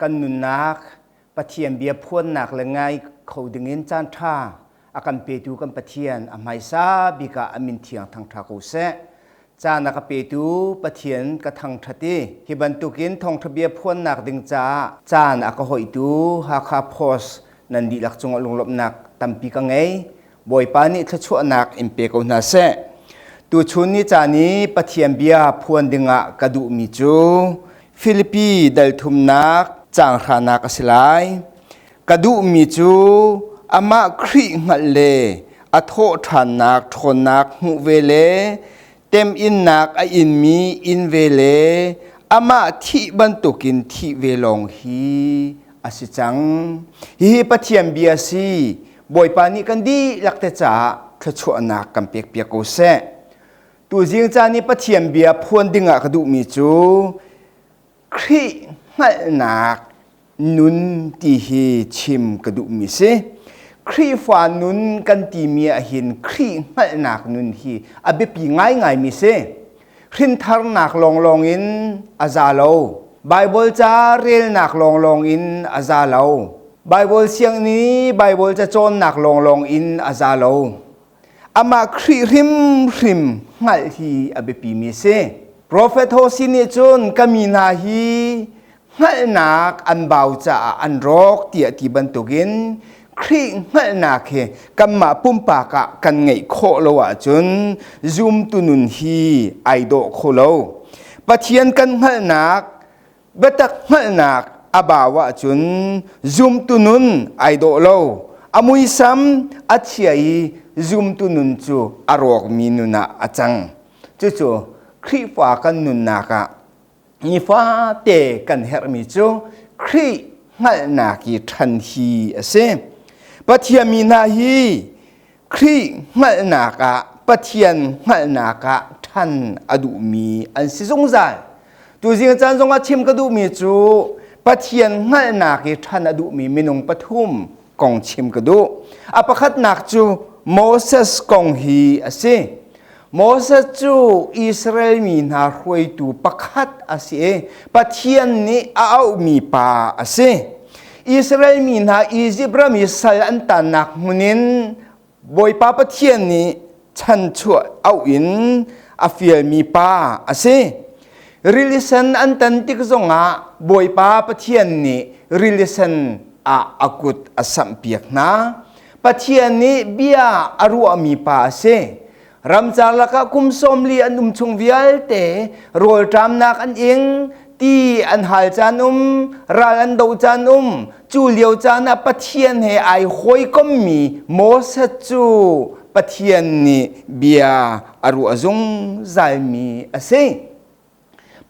kan nunnak Pathian bia phuannak le ngai kho dingin caanṭha a kan petu kan Pathian a hmaisa bik ah a min thiang thangṭha ko seh. Caan a ka petu Pathian ka thangṭhat i hi bantukin thawngṭha bia phuannak ding caah caan a ka hoihtu Hakha Post nan dihlak cungah lunglawmhnak tampi ka ngei. Bawipa nih thluachuahnak in pe ko hna seh. Tuchun ni caan i Pathian bia phuan dingah ka duhmi cu Filipi dalthumnak caanghranak a si lai. Ka duhmi cu amah Khrih hngalh le a thawhṭhannak ṭhawnnak hmuh ve le temhinnak a inmi in ve le amah thih bantukin thih ve lawng hi a si cang. Hihi Pathian bia a si. Bawipa nih kan dihlak te caah thluachuahnak kan pek piak ko seh. Tuzing caan i Pathian bia phuan dingah ka duhmi cu Khrih hngalhnak nun ti hi chim ka duhmi si. Khrihfa nun kan timi ahhin Khrih hngalhnak nun hi a biapi ngaingaimi si. Hrintharnak lawnglawng in a za lo. Baibal ca relnak lawnglawng in a za lo. Baibal siang nih Baibal cacawnnak lawnglawng in a za lo. Amah Khrih hrimhrim hngalh hi a biapimi a si. Profet Hosea nih cun ka mi hna hi hngalhnak an bau caah an rawk tiah ti bantukin Khrih hngalhnak hi kanmah pumpak ah kan ngeih khawh lo ahcun zumtu nun hi ai dawh kho lo. Pathian kan hngalhnak, biatak hngalhnak a bau ahcun zumtu nun ai dawh lo. A muisam a chia i zumtu nun cu a rawkmi nun ah a cang. Cucu Khrihfa kan nunnak ah nifate kan herhmi cu Khrih hngalhnak i ṭhan hi a si. Pathian mi hna hi Khrih hngalhnak ah Pathian hngalhnak ah ṭhan a duhmi an si zungzal. Tuzing a caan zongah chim ka duhmi cu Pathian hngalhnak i ṭhan a duhmi minung pathum kong chim ka duh. A pakhatnak cu Moses kong hi a si. Moses cu Israel mi hna hruaitu pakhat a si i Pathian nih a auhmi pa a si. Israel mi hna Izipt ram i sal an tannak hmun in Bawipa Pathian nih chanchuah auh in a fialmi pa a si. Rilisen an tan tik zongah Bawipa Pathian nih rilisen ah a kut a samhpiak hna. Pathian nih bia a ruahmi pa a si. Ramcar lakah kum sawmli an um chung vialte rawlṭamnak an ing, ti an hal caan um, ral an do caan um. Cu lio caan ah Pathian he ai hawikommi Moses cu Pathian nih bia a ruah zungzalmi a si.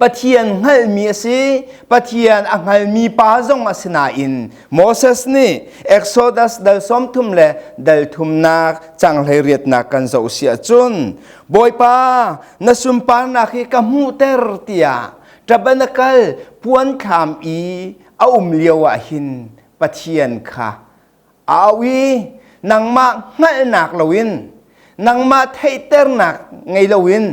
Pathian hngalmi a si. Pathian a hngalmi pa zong a si nain Moses nih Exodus dal sawmthum le dal thumnak canghhlei riatnak kan zoh si ahcun Bawipa na sunparnak hi ka hmuhter tiah tabernakal puan thlam i a um lio ah hin Pathian kha Au i nangmah hngalhnak loin nangmah theihternak ngei loin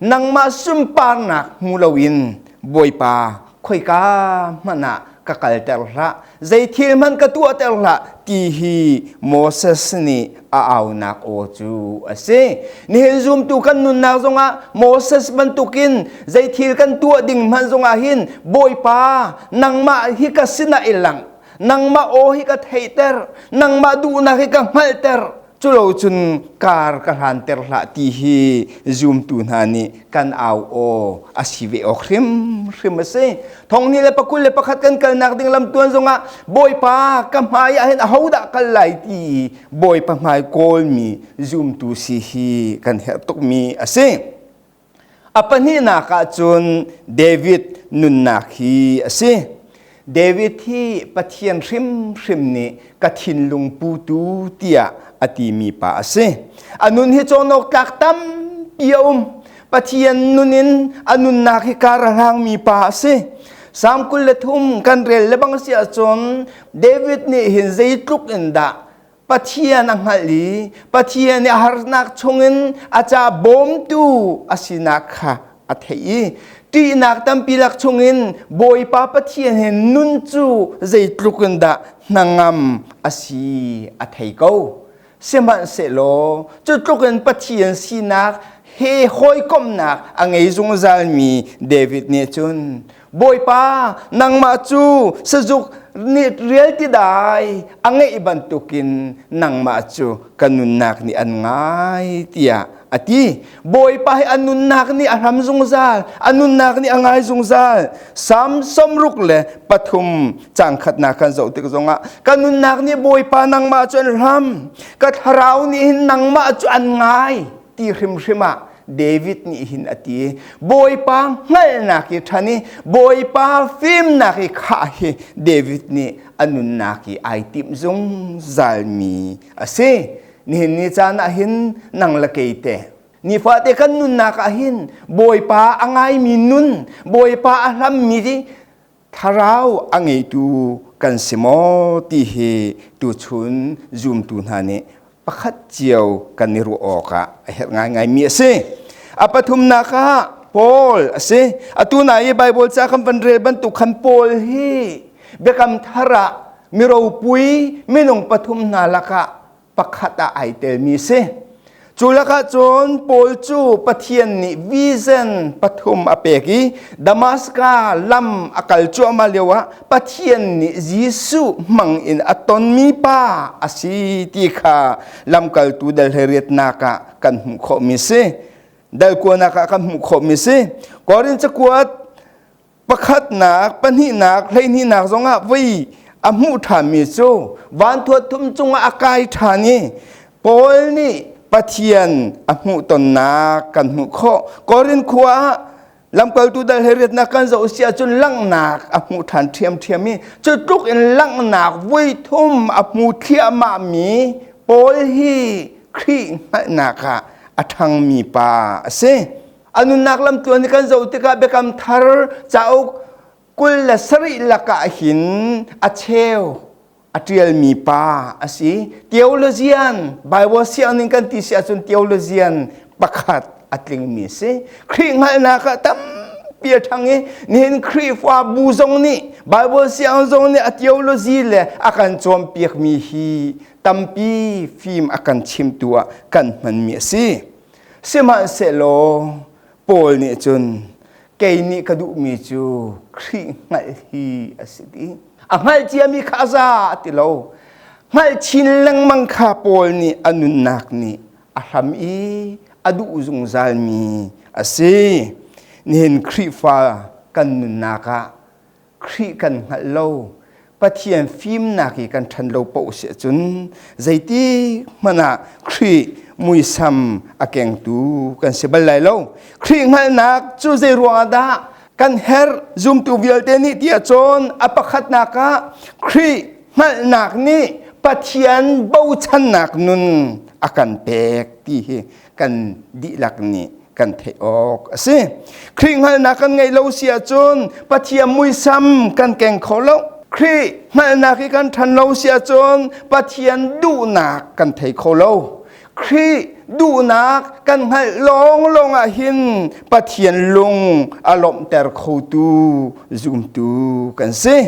nangmah sunparnak hmu loin Bawipa khoika hmanh ah ka kalter hlah zei thil hmanh ka tuahter hlah ti hi Moses nih a aunak aw cu a si nihin zumtu kan nunnak zongah Moses bantukin zei thil kan tuah ding hmanh zongah hin Bawipa nangmah hi ka sinah i langh nangmah aw hi ka theiter nangmah duhnak hi ka hngalhter culo cun kar ka hlanter hlah ti hi zumtu hna nih kan au aw a si ve awk hrimhrim a si thongni le pakul le pakhat kan kalnak ding lamtuan zongah bawipa ka hmai ah hin ahodah kal lai ti bawipa hmai kawlmi zumtu si hi kan herh tukmi a si A pahnihnak ah cun David nunnak hi a si. David hi Pathian hrimhrim nih ka thinlung putu tiah a timi pa a si. A nun hi cawhnok tlak tampi a um. Pathian nun in a nunnak hi kar a hlangmi pa a si. Sam kul le thum kan rel le bang si ahcun David nih hin zeitluk in dah Pathian a hngalh i Pathian i a harnak chungin a ca bawmtu a sinak kha a theih i ṭihnak tampi lak chungin Bawipa Pathian he nun cu zeitluk in dah hnangam a si a thei ko. Sihmanhsehlaw cutluk in Pathian sinak he hawikomhnak a ngei zungzalmi David nih cun Bawipa, nangmah cu sazuk nih rial ti dai a ngeih bantukin nangmah cu ka nunnak nih an ngai tiah a ti. Bawipa hi a nunnak nih a hlam zungzal, a nunnak nih a ngai zungzal. Samson ruk le pathum cangkhatnak kan zoh tik zongah ka nunnak nih Bawipa nangmah cu an hlam, ka thlarau nih hin nangmah cu an ngai. ti hrimhrim ah David nih hin a ti Bawipa hngalhnak i ṭhan i Bawipa fimnak i khah hi David nih a nunnak i ai timh zungzalmi a si nihin ni caan ah hin nang le kei te nifate kan nunnak ah hin Bawipa a ngaimi nun Bawipa a hlammi thlarau a ngeitu kan si maw ti hi tuchun zumtu hna nih pakhat cio kan i ruah awkah a herh ngaingaimi a si. A pathumnak ah Paul a si. Atu na i Bible ca kan van rel bantuk khan Paul hi biakam thar ah mi ropui minung pathum hna lakah pakhat ah ai telmi si. Cu lakah cun Paul cu Pathian nih vision pathum a pek i Damaska lam a kal cuahmah lio ah Pathian nih Jesuh hmang in a tonmi pa a si ti kha lamkaltu dalheriatnak ah kan hmuh khawhmi si. Dalkuanak ah kan hmuh khawhmi si. Korin cakuat pakhatnak, pahnihnak, hleihnihnak zongah voi a hmuh ṭhanmi cu vanthua thum cungah a kai ṭhan i Paul nih Pathian a hmuh tonnak kan hmuh khawh. Korin khua ah lamkaltu dal he riatnak kan zoh si ahcun langhnak a hmuh ṭhan ṭhiamṭhiam i cu tluk in langhnak voi thum a hmu thliahmahmi Paul hi Khrih hngalhnak ah a ṭhangmi pa a si. a nunnak lamtuan i kan zoh tikah biakam thar cauk kul le sarih lakah hin a cheu a ṭialmi pa a si theologian Bible siangning kan ti si ahcun theologian pakhat a tlingmi si Khrih hngalhnak ah tampi a ṭhang i nihin Khrihfabu zong nih Bible siang zong nih a theology le a kan cawnpiakmi hi tampi fim a kan chimtu ah kan hmanmi a si Sihmanhsehlaw Paul nih cun kei nih ka duhmi cu Khrih hngalh hi a si dih. A hngalh ciami kha a za a ti lo. Hngalh chin lengmang kha Paul nih a nunnak nih a hlam i a duh zungzalmi a si. Nihin Khrihfa kan nunnak ah Khrih kan hngalh lo. Pathian fimnak i kan ṭhan lo paoh si ahcun zeiti hmanh ah Khrih muisam a kengtu kan si bal lai lo. Khrih hngalhnak cu zei ruangah dah kan herh? Zumtu vialte nih ti ahcun a pakhatnak ah Khrih hngalhnak nih Pathian bochannak nun a kan pek ti hi kan dihlak nih kan theih awk a si. Khrih hngalhnak kan ngeih lo si ahcun Pathian muisam kan keng kho lo. Khrih hngalhnak i kan ṭhan lo si ahcun Pathian duhnak kan thei kho lo. Khrih duhnak kan hngalh lawng lawng ah hin Pathian lung a lawmhter khotu zumtu kan si.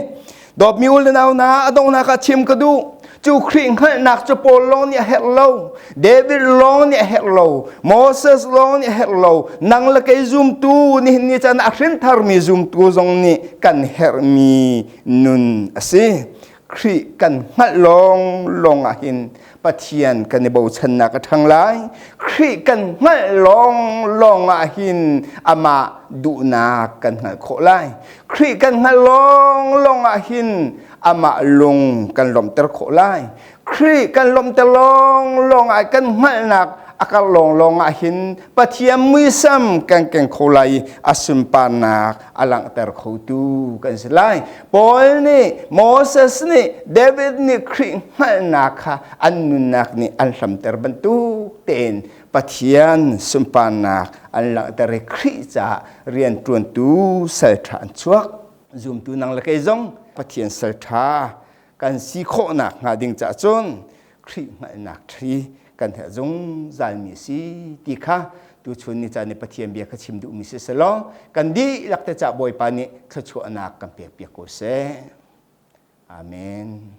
dawpmi ul nau na adongnak ah chim ka duh cu Khrih hngalhnak cu Paul lawng nih a herh lo David lawng nih a herh lo Moses lawng nih a herh lo nang le kei zumtu nihin ni chan a hrintharmi zumtu zong nih kan herhmi nun a si Khrih kan hngalh lawng lawng ah hin Pathian kan i bochannak a ṭhang lai. Khrih kan hngalh lawng lawng ah hin amah duhnak kan hngalh khawh lai. Khrih kan hngalh lawng lawng ah hin amah lung kan lawmhter khawh lai. Khrih kan lawmhter lawng lawng ah kan hngalhnak a karh lawng lawng ah hin Pathian muisam kan keng kho lai i a sunparnak a langhter khotu kan si lai. Paul nih Moses nih David nih Khrih hngalhnak kha an nunnak nih an hlamter bantuk tein Pathian sunparnak an langhter i Khrih caah rianṭuantu salṭha an chuak. Zumtu nang le kei zong Pathian salṭha kan si khawh nakhnga ding caah cun Khrih hngalhnak ṭhi kan herh zungzalmi si ti kha tuchun ni caan i Pathian bia kha chim duhmi si selaw kan dihlak te cah Bawipa nih thluachuahnak kan pekpiak ko seh. Amen.